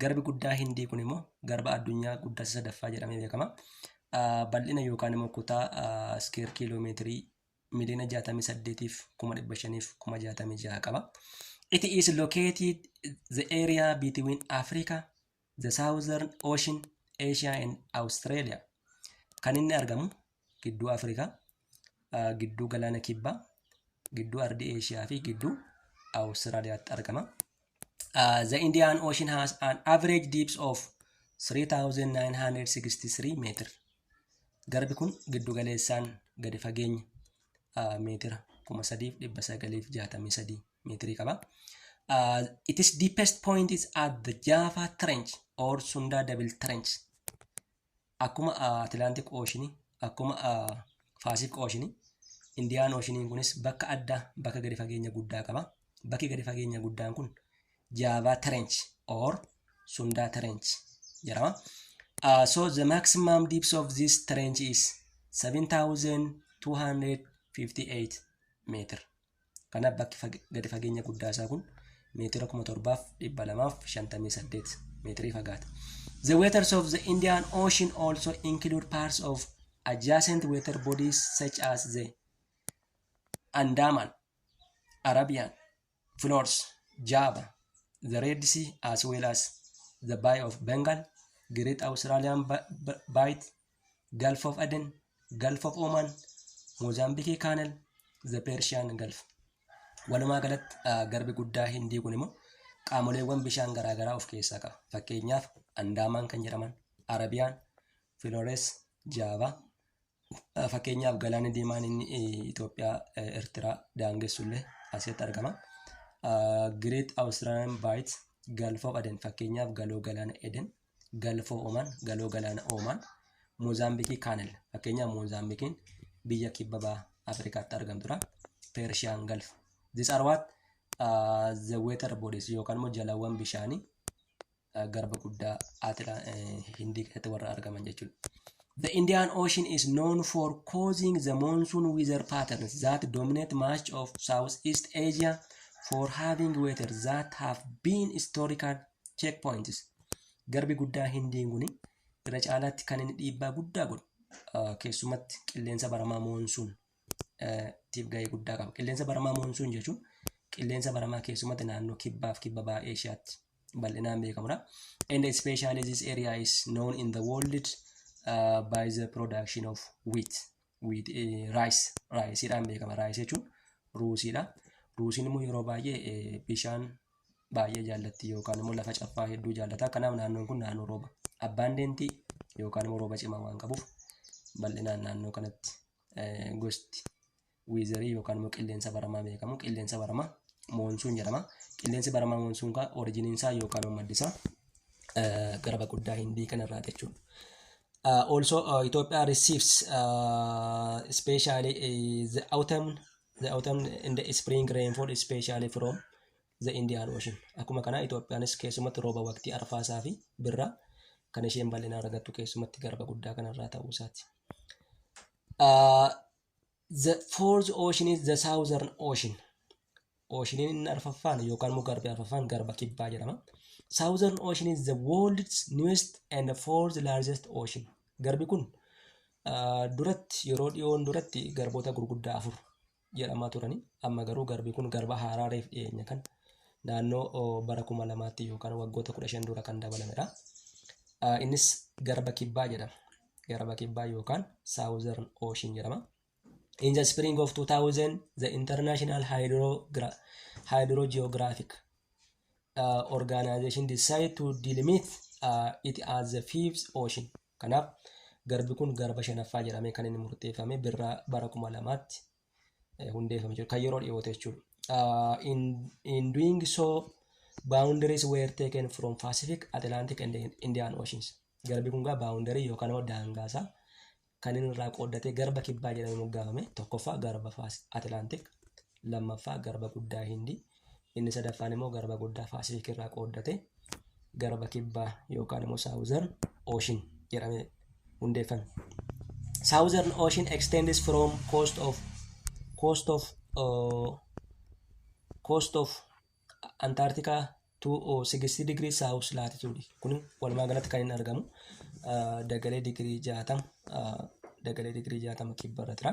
Garbi guddaa Hindii kun immoo garba addunyaa guddaa isa sadaffaa jedhamee beekama. Ah, Bal'ina yookaan immoo kutaa ah, iskeer kiiloomeetirii miliyoona 68 fi kuma 500 fi kuma 66 qaba. It is located the area between Africa, the Southern Ocean, Asia and Australia. Kan inni argamu gidduu Afrikaa, gidduu galaana kibbaa, gidduu ardii Eeshiyaa fi gidduu Awustiraaliyaatti argama. Uh, the Indian Ocean has an average depth of 3963 meter. Garbi kun giddu galeessaan gadi fageenya uh, meetira 3963 meetirii qaba. Uh, it is deepest point is at the Java Trench or Sunda Devil Trench. akkuma Atilaantik Ooshinii, akkuma Faasik Ooshinii, Indiyaan Ooshiniin kunis bakka addaa bakka gadi fageenya guddaa qaba. Bakki gadi fageenya guddaan kun Jaavaa Trench or Sundaa Trench jedhama. Uh, so the maximum depth of this trench is 7258 meter. Kanaaf bakki gadi fageenya guddaa isaa kun meetira kuma torbaaf dhibba lamaaf shantamii saddeet meetirii fagaata. The waters of the Indian Ocean also include parts of adjacent water bodies such as the Andaman, Arabian, Flores, Java, the Red Sea as well as the Bay of Bengal, Great Australian Bight, Gulf of Aden, Gulf of Oman, Mozambique Canal, the Persian Gulf. Walumaa galatti ah, garbi guddaa Hindii kun immoo qaamoleewwan bishaan garaagaraa of keessaa qaba. Fakkeenyaaf Andaamaan kan jedhaman, Arabiyaan, Filores, Jaava. Ah, Fakkeenyaaf galaanni diimaan inni eh, Itoophiyaa, eh, Eertiraa daangessullee asitti argama. Ah, Great Australian Bight, Gulf of Aden fakkeenyaaf galoo galaana Eden Galfoo Oman, Galoo Galaana Oman, Moozaambikii Kaanel. Fakkeenyaaf Moozaambikiin biyya kibba baha Afrikaatti argamtudha. Persian Gulf. These are what uh, the water bodies yookaan immoo jalawwan bishaanii uh, garba guddaa Atila eh, Hindii keessatti warra argaman jechuudha. The Indian Ocean is known for causing the monsoon weather patterns that dominate much of Southeast Asia for having weather that have been historically Check points. Garbi guddaa Hindiin kun irra caalaatti kan inni dhiibbaa guddaa godhu keessumatti qilleensa baramaa moonsuun tiif gahee guddaa qaba. Qilleensa baramaa moonsuun jechuun qilleensa baramaa keessumatti naannoo kibbaaf kibba baha Eeshiyaatti bal'inaan beekamudha. And especially this area is known in the world uh, by the production of wheat. Wheat, eh, rice, rice dhaan beekama. Rice jechuun ruusiidha. Ruusiin immoo yeroo baay'ee eh, bishaan baay'ee jaallatti yookaan immoo lafa caffaa hedduu jaallata. Kanaaf naannoon kun naannoo rooba abbaandentii yookaan immoo rooba cimaa waan qabuuf bal'inaan naannoo kanatti eh, gosti wiizarii yookaan immoo qilleensa baramaa beekamu. Qilleensa baramaa moonsuun jedhama. Qilleensi baramaa moonsuun kaa orijiniin isaa yookaan immoo maddi isaa garaba guddaa hindii kanarraa jechuudha. Uh, also uh, Ethiopia receives uh, especially uh, the autumn the autumn and the spring rainfall especially from the Indian Ocean. Akkuma kana Itoophiyaanis keessumatti rooba waqtii arfaasaa fi birraa kan isheen bal'inaan argattu keessumatti garba guddaa kanarraa ta'uu isaati. Uh, The fourth ocean is the southern ocean. Oceaniin inni arfaffaan yookaan immoo garbi arfaffaan garba kibbaa jedhama. Southern ocean is the world's newest and the fourth largest ocean. Garbi kun ah, duratti yeroo dhiyoon duratti garboota gurguddaa afur jedhamaa turani. Amma garuu garbi kun garba haaraa reef dhiyeenya kan naannoo oh, bara kuma lamaatti yookaan waggoota kudha shan dura kan dabalamedha. Ah, Innis garba kibbaa jedhama. garba kibbaa yookaan Southern Ocean jedhama. In the spring of 2000, the International Hydrogra Hydrogeographic uh, Organization decided to delimit uh, it as the fifth ocean. Kanaaf garbi kun garba shanaffaa jedhamee kan inni murteeffame birraa bara kuma lamaatti hundeeffame jechuudha. Kan yeroo dhiyoota jechuudha. In, in doing so, boundaries were taken from Pacific, Atlantic and Indian Oceans. Garbi kun gaa boundary yookaan immoo daangaasa kan inni irraa qooddatee garba kibbaa jedhamee moggaafame. Tokkoffaa garba Atlantic, lammaffaa garba guddaa Hindi, Inni sadaffaan immoo garba guddaa Paasifik irraa qooddate garba kibbaa yookaan immoo Saawuzern Ooshin jedhamee hundeeffame. Saawuzern Ooshin extends from coast of coast of uh, coast of Antarctica to uh, 60 degree south latitude. Kun walumaa galatti kan inni argamu uh, dagalee digirii 60 uh, dagalee digirii 60 kibba irra jira.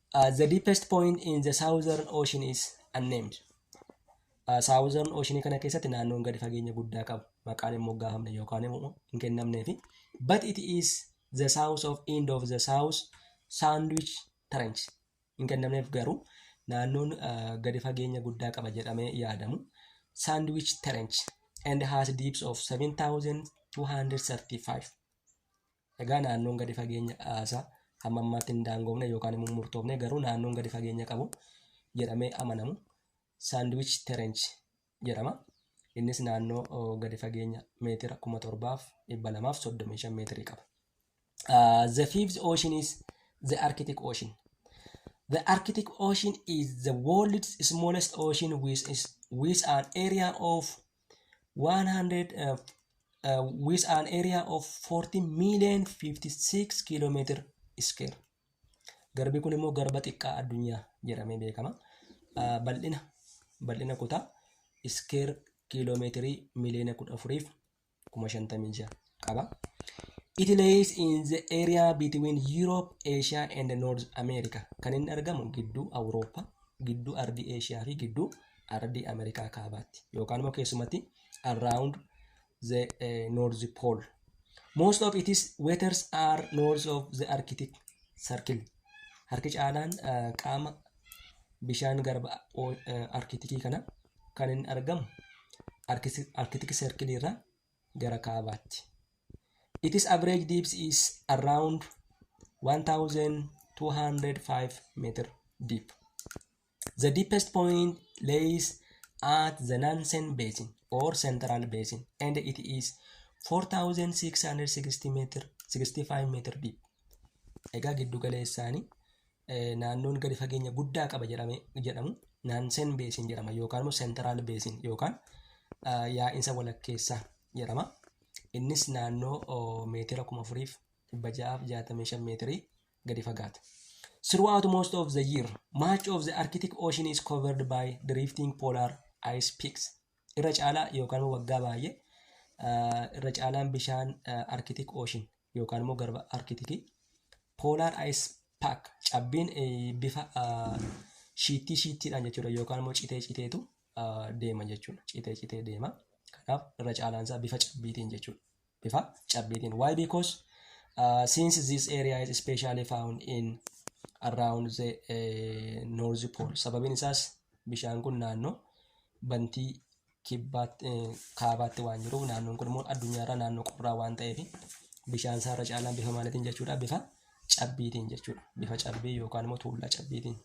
Uh, the deepest point in the southern ocean is unnamed. Uh, southern ocean kana keessatti naannoon gadi fageenya guddaa qabu maqaan hin moggaafamne yookaan immoo hin kennamnee fi but it is the south of end of the south sandwich trench hin kennamneef garuu naannoon uh, gadi fageenya guddaa qaba jedhamee yaadamu sandwich trench and has deeps of 7235 Egaa naannoon gadi fageenya haasaa hamma ammaatti hin daangoofne yookaan immoo murtoofne garuu naannoon gadi fageenya qabu jedhamee amanamu saandwich terench jedhama. Innis naannoo oh, gadi fageenya meetira kuma torbaaf dhibba lamaaf soddomii shan meetirii qaba. Uh, the fifth ocean is the Arctic Ocean. The Arctic Ocean is the world's smallest ocean with, is, with an area of 100 uh, with an area of 40 million 56 kilometer square. Garbi kun immoo garba xiqqaa addunyaa jedhamee beekama. Uh, bal'ina bal'ina kutaa iskeer kiiloomeetirii miliyoona kudha afuriif kuma shantamii ja'a. qaba. It lays in the area between Europe, Asia and North America. Kan inni argamu gidduu Awurooppaa, gidduu ardii Eeshiyaa fi gidduu ardii Ameerikaa kaabaatti. Yookaan immoo keessumatti around the eh, North Pole. Most of its waters are north of the Arctic Circle. Harki caalaan eh, qaama bishaan garba o- eh, Arkitikii kana kan inni argamu Arkisi- Arkitik Circle irraa gara kaabaatti. Its average depth is around 1205 meter deep. The deepest point lays at the Nansen Basin or Central Basin and it is 4660 meter 65 meter deep. Egaa giddu galeessaanii naannoon gadi fageenya guddaa qaba jedhamu naansen beesin jedhama yookaan immoo seentiraal beesin yookaan yaa'insa walakkeessaa jedhama. Innis naannoo meetira kuma afuriif dhibba ja'aaf jaatamii shan meetirii gadi fagaata. Throughout most of the year, much of the Arctic Ocean is covered by drifting polar ice peaks. Irra caalaa yookaan waggaa baay'ee irra caalaan bishaan Arctic Ocean yookaan immoo garba arkitiki poolaar ayis paak cabbiin bifa shiittii shiittiidhaan jechuudha yookaan immoo citee citeetu deema jechuudha citee citee deema kanaaf irra caalaansaa bifa cabbiitiin jechuudha bifa cabbiitiin why because uh, since this area is specially found in around the uh, north pole sababiin isaas bishaan kun naannoo bantii kibbaatti, eh, kaabaatti waan jiruuf naannoon kun immoo addunyaarraa naannoo qorraa waan ta'eef bishaan isaa irra caalaan bifa maaliitiin jechuudha bifa cabbiitiin jechuudha bifa cabbii yookaan immoo tuullaa cabbiitiin.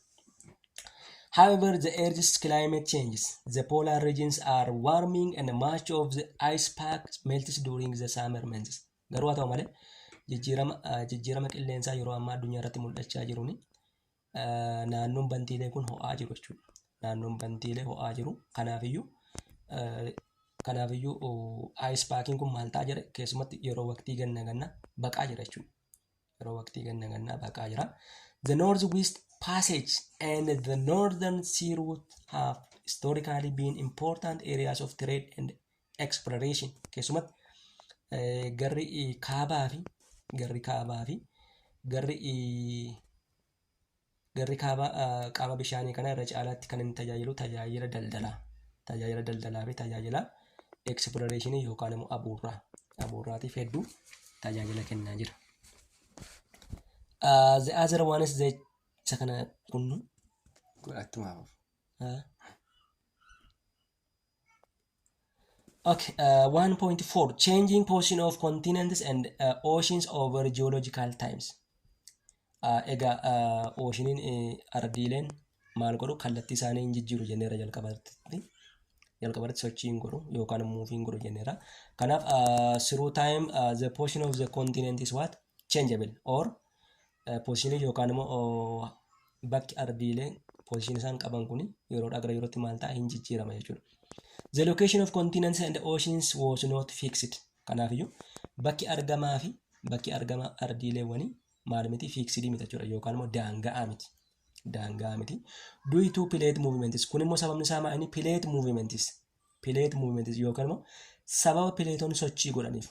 However, the Earth's climate changes. The polar regions are warming and much of the ice pack melts during the summer months. Garuu haa ta'u malee jijjiirama ah, jijjiirama qilleensaa yeroo ammaa addunyaa irratti mul'achaa jiruun naannoon bantiilee kun ho'aa jiru jechuudha. Naannoon bantiilee ho'aa jiru. Kanaafiyyuu kanaafiyyuu ayis paakiin kun maal ta'a jedhe keessumatti yeroo waqtii ganna ganna baqaa jira jechuudha. Yeroo waqtii ganna ganna baqaa jira. The North West Passage and the Northern Sea Route have historically been important areas of trade and exploration. Keessumatti garri kaabaa fi garri kaabaa fi garri Garri kaabaa qaama bishaanii kana irra caalaatti kan inni tajaajilu tajaajila daldalaa, tajaajila daldalaa fi tajaajila eksploreeshinii yookaan immoo abuurraa, abuurraatiif hedduu tajaajila kennaa jira. Uh, the other one is the isa kana kunnu Attuma hafuuf. uh, Okay, uh, 1.4 Changing position of continents and uh, oceans over geological times. Uh, egaa uh, oceaniin uh, ardiileen maal godhu kallattii isaanii hin jijjiiru jenneera jalqabarratti. Jalqabarratti sochii hin godhu yookaan muuvii hin godhu jenneera. Kanaaf uh, through time uh, the position of the continent is what? Changeable or Poozishinii yookaan immoo bakki ardiilee poozishinii isaan qaban kun yeroodhaa gara yerootti maal ta'a hin jijjiirama jechuudha. The location of continents and oceans was not fixed. Kanaafiyyuu bakki argamaa fi bakki argama ardiileewwanii maal miti fiiksidii miti jechuudha yookaan immoo daanga'aa miti. Daanga'aa miti. Due to plate movements kun immoo sababni isaa maal inni plate movements plate movement yookaan immoo sababa pileetonni sochii godhaniif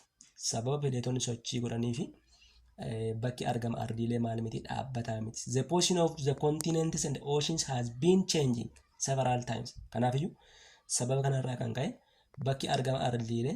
sababa pileetonni sochii godhaniif bakki argama ardiilee maal miti dhaabbataa miti. The position of the continents and oceans has been changing several times. Kanaafiyyuu sababa kanarraa kan ka'e bakki argama ardiilee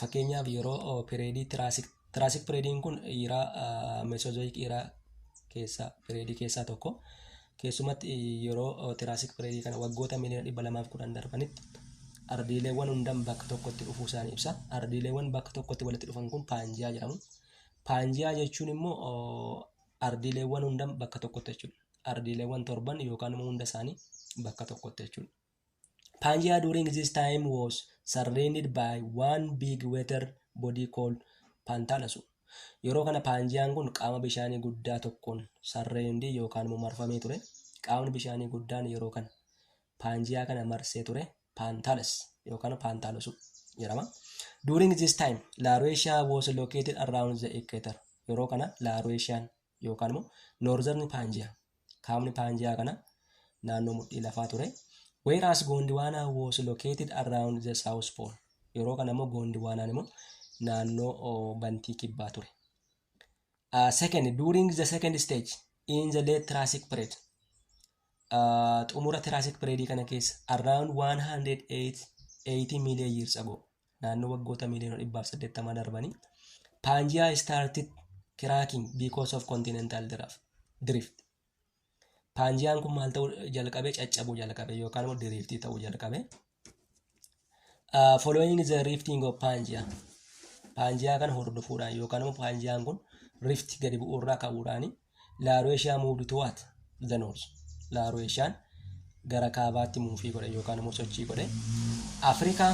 Fakkeenyaaf yeroo pireedii tiraasik tiraasik pireediin kun iiraa mesozoyik iiraa keessaa pireedii keessaa tokko keessumatti yeroo tiraasik pireedii kana waggoota miliyoona dhibba lamaaf kudhan darbanitti ardiileewwan hundan bakka tokkotti dhufuu isaanii ibsa ardiileewwan bakka tokkotti walitti dhufan kun paanjiyaa jedhamu paanjiyaa jechuun immoo ardiileewwan hundan bakka tokkotti jechuudha ardiileewwan torban yookaan immoo hunda isaanii bakka tokkotti jechuudha Pangea during this time was surrounded by one big water body called Pantalasu. Yeroo kana Paanjiyaan kun qaama bishaanii guddaa tokkoon sarreendii yookaan immoo marfamee ture. Qaamni bishaanii guddaan yeroo kana Paanjiyaa kana marsee ture Paantalas yookaan Paantalasu jedhama. During this time, Laruesha was located around the equator. Yeroo kana Larueshaan yookaan immoo Northern Pangea kaabni Pangea kana naannoo mudhii lafaa ture. Whereas Gondwana was located around the South Pole. Yeroo kana immoo Gondwanaan immoo naannoo oh, bantii kibbaa ture. Uh, second, during the second stage in the late Triassic period. Uh, xumura Triassic period kana keessa around 180 million years ago. naannoo waggoota miiliyoona dhibbaaf saddeettama darbanii paanjiyaa started cracking because of continental draft- drift paanjiyaan kun maal ta'uu jalqabe caccabuu jalqabe yookaan immoo diriiftii ta'uu jalqabe Uh, following the rifting of paanjiyaa paanjiyaa kana hordofuudhaan yookaan immoo paanjiyaan kun rift gadi bu'uurraa ka'uudhaani Laaroeshiyaa muuvd tuwaat the north. Laaroeshiyaan gara kaabaatti muufii godhe yookaan immoo sochii godhe. Afrikaa,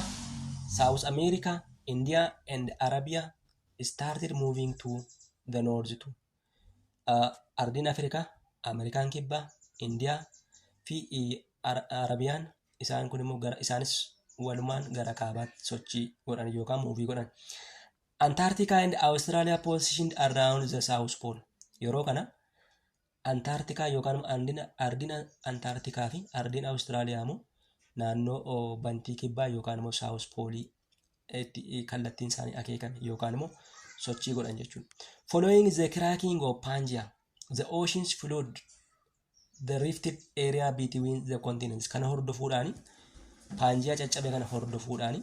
Saawus Ameerikaa, Indiyaa and Arabiyaa started moving to the north too. Uh, Ardiin Afrikaa, Ameerikaan Kibbaa, Indiyaa fi Ar- Arabiyaan isaan kun immoo gara isaanis walumaan gara kaabaatti sochii godhan yookaan muuvii godhan. Antarctica and Australia positioned around the South Pole. Yeroo kana Antaartikaa yookaan immoo andina ardina Antaartikaa fi ardina Awustiraaliyaa immoo naannoo oo, bantii kibbaa yookaan immoo South Pole itti eh, kallattiin isaanii akeekame yookaan immoo sochii godhan jechuudha. Following the cracking of Pangea, the oceans flood the rifted area between the continents kana hordofuudhaani paanjiyaa caccabe kana hordofuudhaani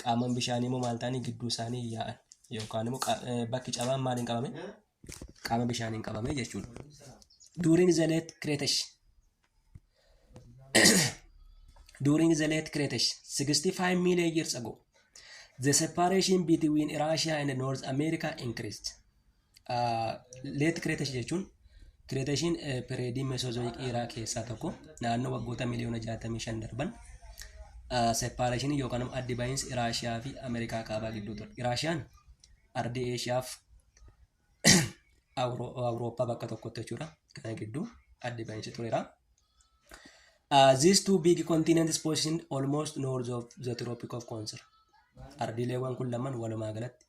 qaaman bishaanii immoo maal ta'anii gidduu isaanii yaa'an yookaan immoo qa- eh, bakki cabaan maaliin qabame qaama bishaaniin qabame jechuudha. During the late Cretaceous during the late Cretaceous 65 million years ago the separation between Russia and North America increased. Leet kireetashi jechuun kireetashiin pireedii meesoozoyik dhiiraa keessaa tokko naannoo waggoota miliyoona 65 darban seepaareeshinii yookaan immoo addi bahiinsi Iraashiyaa fi Ameerikaa kaabaa gidduu ture. Iraashiyaan ardii Eeshiyaaf Awurooppaa bakka tokkotti jechuudha. Kana gidduu addi bahiinsi tureera. Uh, these two big continents positioned almost north of the Tropic of Cancer. Ardiileewwan kun lamaan walumaa galatti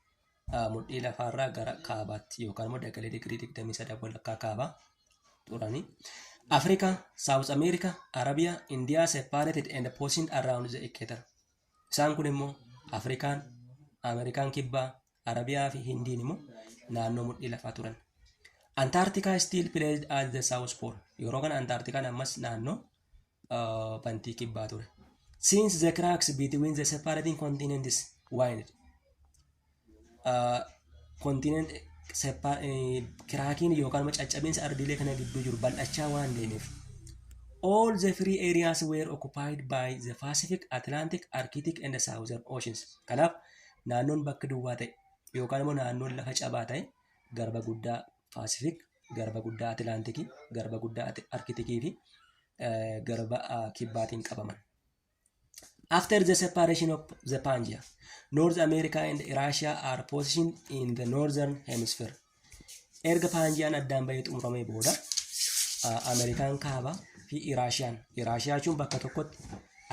mudhii lafaarraa gara kaabaatti yookaan immoo dagalee digirii 23 walakkaa kaabaa turani. Africa, South America, Arabia, India separated and positioned around the equator. Isaan kun immoo Afrikaan, Ameerikaan kibbaa, Arabiyaa fi Hindiin immoo naannoo mudhii lafaa turan. Antarctica still placed at the south pole. Yeroo kana Antarcticaan ammas naannoo uh, bantii kibbaa ture. Since the cracks between the separating continents widened, uh, continent separ- eh, kiraakiin yookaan immoo caccabinsa ardiilee kana gidduu jiru bal'achaa waan deemeef. All the three areas were occupied by the Pacific, Atlantic, Arctic and the Southern Oceans. Kanaaf naannoon bakka duwwaa ta'e yookaan immoo naannoon lafa cabaa ta'e garba guddaa Paasifik, Garba Guddaa Atilaantikii, Garba Guddaa Ati- Arkitikii fi eh, Garba ah, Kibbaatiin qabaman. After the separation of the Pangea, North America and Russia are positioned in the northern hemisphere. Erga Paanjiyaan addaan bahee xumuramee booda ah, Ameerikaan kaaba fi Iraashiyaan. Iraashiyaa jechuun bakka tokkotti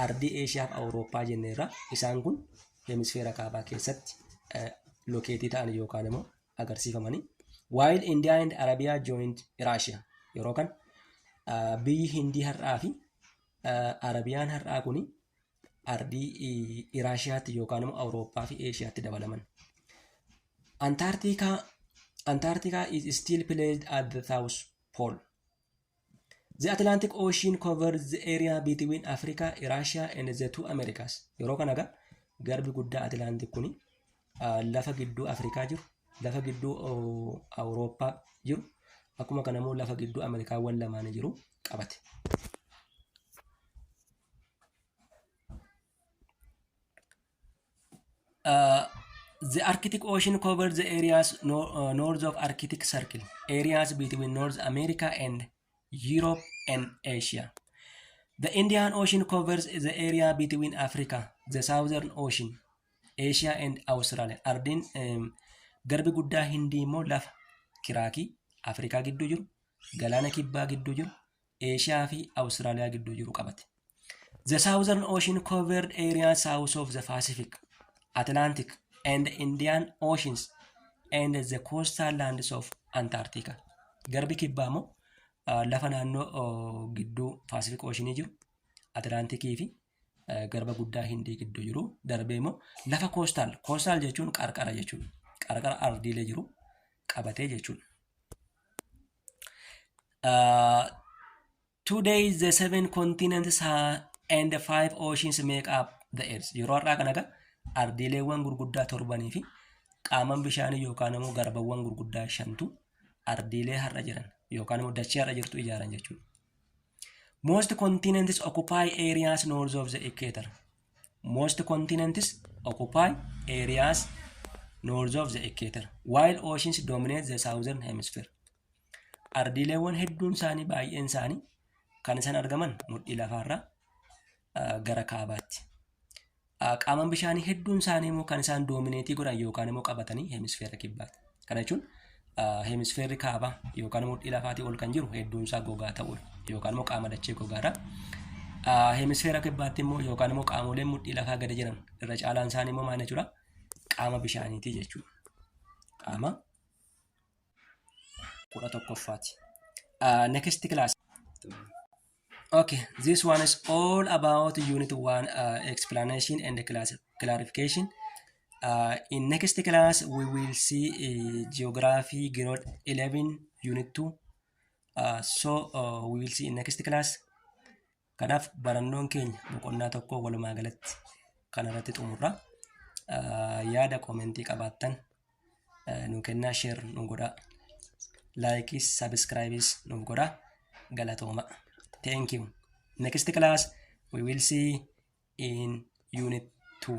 ardii Eeshiyaa fi Awurooppaa jenneerra. Isaan kun hemisfeera kaabaa keessatti eh, lokeetii ta'an yookaan immoo agarsiifamanii while India and Arabia joined Russia yeroo kan ah, biyyi Hindii har'aa fi ah, Arabiyaan har'aa kuni ardii i- Iraashiyaatti yookaan immoo Awurooppaa fi Eeshiyaatti dabalaman. Antarctica Antarctica is still placed at the south pole. The Atlantic Ocean covers the area between Africa, Russia and the two Americas. Yeroo kana egaa garbi guddaa Atlantic kuni ah, lafa gidduu Afrikaa jiru, lafa gidduu oh, Awurooppaa jiru, akkuma kana immoo lafa gidduu Ameerikaawwan lamaanii jiru qabate. Uh, the Arctic Ocean covers the areas no, uh, north of Arctic Circle, areas between North America and Europe and Asia. The Indian Ocean covers the area between Africa, the Southern Ocean, Asia and Australia. Ardiin um, garbi guddaa Hindii immoo lafa kiraakii Afrikaa gidduu jiru, galaana kibbaa gidduu jiru, Eeshiyaa fi Awustiraaliyaa gidduu jiru qabate. The Southern Ocean covered area south of the Pacific, Atlantic and Indian Oceans and the coastal lands of Antarctica. Garbi kibbaa immoo ah, lafa naannoo oh, gidduu Pacific Ocean jiru, Atlantikii fi eh, garba guddaa Hindii gidduu jiru. Darbee immoo lafa coastal, coastal jechuun qarqara jechuudha. Qarqara ardiilee jiru qabatee jechuudha. Uh, today the seven continents ha- and the five oceans make up the earth. Yeroo har'aa kana egaa ardiileewwan gurguddaa torbanii fi qaaman bishaanii yookaan immoo garbawwan gurguddaa shantu ardiilee har'a jiran yookaan immoo dachee har'a jirtu ijaaran jechuudha. Most continents occupy areas north of the equator. Most continents occupy areas north of the equator while oceans dominate the southern hemisphere. Ardiileewwan hedduun isaanii baay'een isaanii kan isaan argaman mudhii lafaarraa ah, gara kaabaatti. Ah, Qaaman bishaanii hedduun isaanii immoo kan isaan doomineetii godhan yookaan immoo qabatanii hemisfeera kibbaati. Kana jechuun hemisfeerri kaabaa yookaan mudhii lafaatii ol kan jiru hedduun isaa gogaa ta'uudha yookaan immoo qaama dachee gogaadha. Hemisfeera kibbaatti immoo yookaan immoo qaamoleen mudhii lafaa gadi jiran irra caalaan isaanii immoo maal jechuudha? Qaama bishaaniitii jechuudha. Qaama kudha tokkoffaati. Next class. Okay, this one is all about unit one uh, explanation and class clarification. Uh, in next class, we will see uh, geography grade 11, unit 2. Uh, so, uh, we will see in next class. Kanaaf barannoon keenya boqonnaa tokko walumaa galatti kan irratti xumurra. Uh, yaada koomentii qabaattan nu kennaa sheer nu godhaa laayikis sabiskiraayibis nuuf godhaa galatooma thank you next class we will see in unit 2